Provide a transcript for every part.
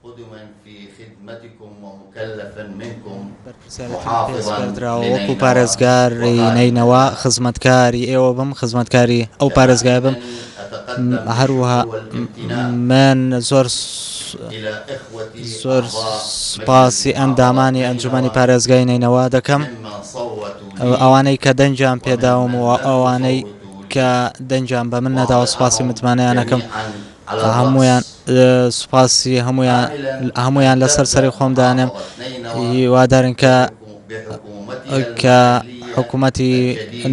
خود من فی خدمتکم و مکلف منکم بەرپرسیارێتیم پێ سپێردراوە وەکو پارێزگاری نەینەوا خزمەتکاری ئێوە بم خزمەتکاری ئەو پارێزگای بم هەروەها من زۆر زۆر سپاسی ئەندامانی ئەنجومی پارێزگای نەینەوا دەکەم ئەوانەی کە دەنجیان پێداوم و ئەوانەی کە دەنجیان بە من نەداوە سپاسی متمانەیانەکەم هەموویان سوپاسی هەموویان لەسەر سەری خۆم دانێم هیوادارن کە کە حکوومەتی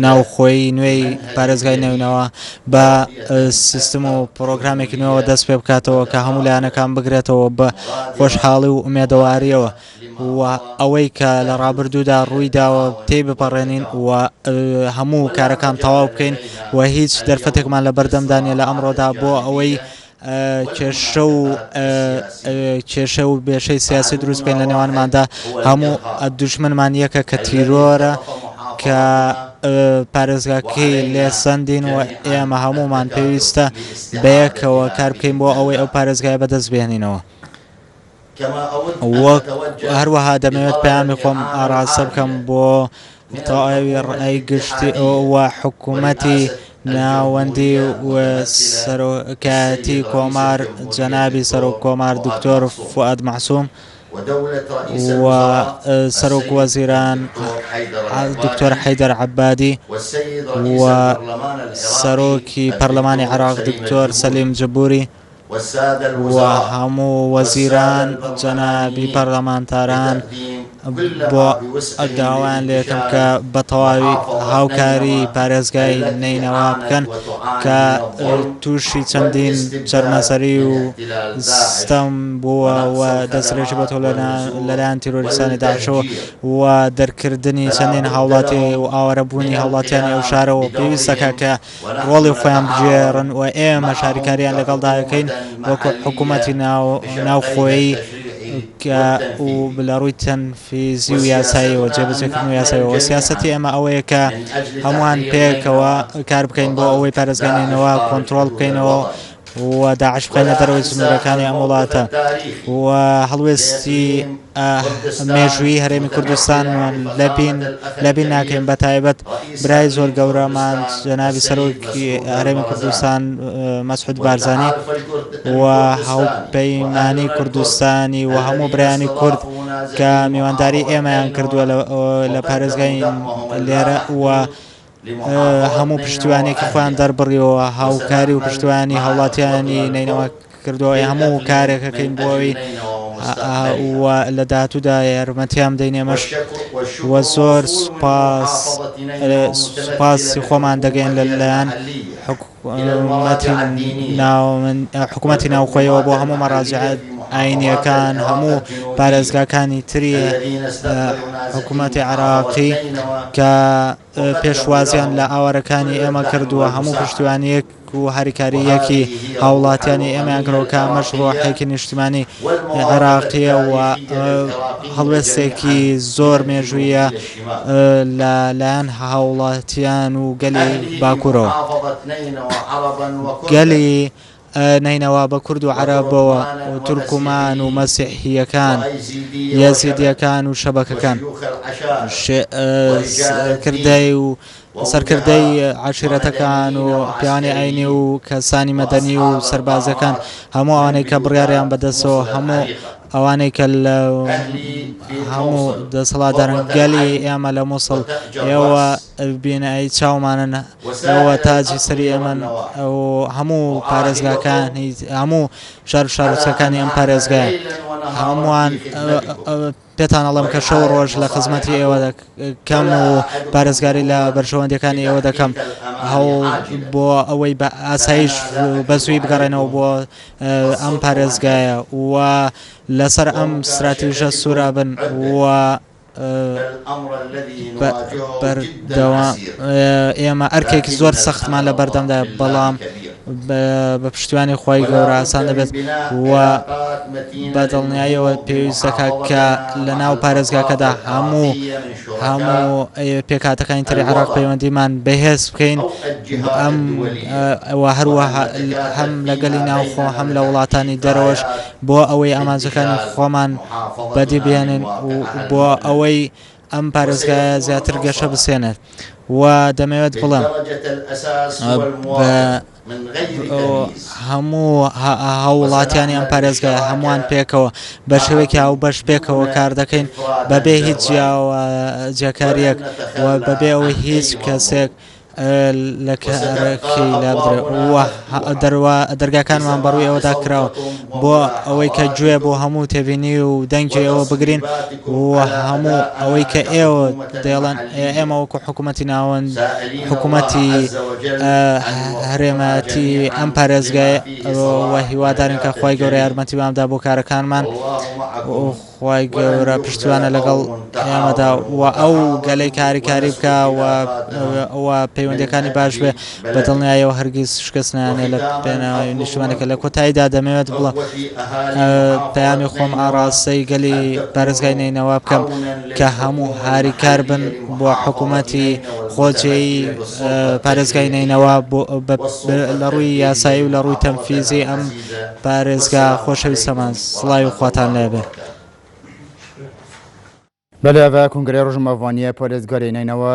ناوخۆی نوێی پارێزگای نەوینەوە بە سیستم و پرۆگرامێکی نوێەوە دەست پێ بکاتەوە کە هەموو لایەنەکان بگرێتەوە بە خۆشحاڵی و ئومێدەواریەوە و ئەوەی کە لە ڕابردوودا ڕووی داوە تێی بپەڕێنین و هەموو کارەکان تەواو بکەین و هیچ دەرفەتێکمان لە بەردەمدا نیە لە ئەمڕۆدا بۆ ئەوەی کێشە و کێشە و بێشەی سیاسی دروست بکەین لە نێوانماندا هەموو دوشمنمان یەکە کە تیرۆرە کە پارێزگاکەی لێ سندین و ئێمە هەمومان پێویستە بەیەکەوە کار بکەین بۆ ئەوەی ئەو پارێزگای بەدەست بێنینەوە. هەروەها دەمەوێت پەیامی خۆم ئاراستە بکەم بۆ تەواوی ڕای گشتی و حکوومەتی ناوەندی و سەرۆکایەتی کۆمار جەنابی سەرۆک کۆمار دکتۆر فواد مەحسوم و سەرۆک وەزیران دکتۆر حەیدەر عەبادی و سەرۆکی پەرلەمانی عراق دکتۆر سەلیم جبوری و هەموو وەزیران و جەنابی پەرلەمانتاران بۆ داوایان لێ دەکەم کە بە تەواوی هاوکاری پارێزگای نەینەوا بکەن کە تووشی چەندین چەرمەسەری و ستەم بووە و دەسترێکی بە تۆ لەلایەن تیرۆریستانی داعشەوە و دەرکردنی چەندین هاوڵاتی و ئاوارەبوونی هاوڵاتیانی ئەو شارەوە پێویستەکە کە ڕۆڵی خۆیان بگێڕن و ئێمەش هاریکارییان لەگەڵدا دەکەین وەکو حکوومەتی ناوخۆیی و لە ڕووی تەنفیزی و یاساییەوە جێبەجێکردن و یاساییەوە سیاسەتی ئێمە ئەوەیە کە هەمووان پێکەوە کار بکەین بۆ ئەوەی پارێزگای نەینەوا کۆنترۆڵ بکەینەوە و داعش بخەینە دەرەوەی سنوورەکانی ئەم وڵاتە و هەڵوێستی مێژووی هەرێمی کوردستانمان لەبین لەبین ناکەین بە تایبەت برای زۆر گەورەمان جەنابی سەرۆکی هەرێمی کوردستان مەسحود بارزانانی و هەڵپەیمانی کوردستانی و هەموو برانی کورد کە میوانداری ئێمەیان کردووە لە پارێزگای لێرە و هەموو پشتیوانێکی خۆیان دەربڕیەوە هاوکاری و پشتیوانی هاوڵاتیانی نینەوە کردەوە هەموو کارێکەکەین بۆەوەی لە داهاتوودا یارمەتیان دەینێمەش وە زۆر سوپاس سوپاسی خۆمان دەگەین لە لایەن حکو حکومەتی ناوخۆیەوە بۆ هەموو مەڕاجع ئاینییەکان هەموو پارێزگاکانی تری حکومەتی عێراقی کە پێشوازیان لە ئاوارەکانی ئێمە کردووە هەموو پشتیوانیەک و هەریکاریەکی هاوڵاتیانی ئێمەیان کرۆکە ئەمەش ڕۆحێکی نیشتمانی عێراقیە و هەڵوێستێکی زۆر مێژوویە لە لایەن هاوڵاتیان و گەلی باکورەوە گەلی نەینەوا بە کورد و عەرەبەوە و تورکمان و مەسیحیەکان یەزیدیەکان و شەبەکەکان کردەی و سەرکردەی عشیرەتەکان و پیانی ئاینی و کەسانی مەدەنی و سەربازەکان هەموو ئەوانەی کە بڕیاریان بەدەستەوە هەموو ئەوانەی کە لە هەموو دەسەڵاتدارن گەلی ئێمە لە مووسڵ ئێوە بینایی چاومانن ئەوە تاجی سەری ئێمەن ئەو هەموو پارێزگاکانی هەموو شار شارچەکانی ئەم پارێزگای هەمووان پێتان ئەڵم کە شەو ڕۆژ لە خزمەتی ئێوە کەم و پارێزگاری لە بەرژەوەندەکانی ئێوە دەکەم هەوڵ بۆ ئەوەی بە ئاسایش بەسووی بگەڕێنەوە بۆ ئەم پارێزگایە و لەسەر ئەم ستراتیژە سوورا بن و بەردەوام ئێمە ئەرکێکی زۆر سەختمان لە بەردەمدا بەڵام بە پشتیوانی خۆی گەوراسان دەبێت و بە دڵنیاییەوە پێویستەکە کە لە ناو پارێزگاکەدا هەموو هەموو پێکهاتەکانی تری عێراق پەیوەندیمان بەهێز بکەین ئەم هەروەها هەم لەگەلی ناوخۆ هەم لە وڵاتانی دەرەوەش بۆ ئەوەی ئامانجەکانی خۆمان بەدی بێنن و بۆ ئەوەی ئەم پارێزگایە زیاتر گەشە بسێنێت و دەمەوێت بڵێم هەموو هاووڵاتیانی ئەم پارێزگایە هەمووان پێکەوە بە شێوەیەکی هاوبەش پێکەوە کار دەکەین بەبێ هیچ جیاکارییەک و بەبێ ئەوەی هیچ کەسێک لە کارەکەی لابدرێت و دەرگاکانمان بەڕووی ئەوەدا کراوە بۆ ئەوەی کە گوێ بۆ هەموو تێبینی و دەنگی ئەوە بگرین و هەموو ئەوەی کە ئێوە دەیڵێن ئێمە وەکو حکوومەتی ناوەند حکوومەتی هەرێمەتی ئەم پارێزگای وە هیوادارن کە خی گەورە یارمەتی بامدا بۆ کارەکانمان خی گەورە پشتیوانە لەگەڵ ئێمەدا و ئەو گەلەی کاریکاری بکە و ئەوە پەیوەندەکانی باش بێ بە دڵنیایەوە هەرگیز شکست نایەنێ لە پێناوی نیشتمانەکە لە کۆتاییدا دەمەوێت بڵێم پەیامی خۆم ئاڕاستەی گەلی پارێزگای نەینەوا بکەم کە هەموو هاریکار بن بۆ حکوومەتی خۆجێی پارێزگای نەینەوا لە ڕووی یاسایی و لە ڕووی تەنفیزی ئەم پارێزگا خۆشەویستەمان سڵاوی خواتان لێبێ بەلێ بە کونگرەی ڕژمەڤانیە پارێزگاری نەینەوە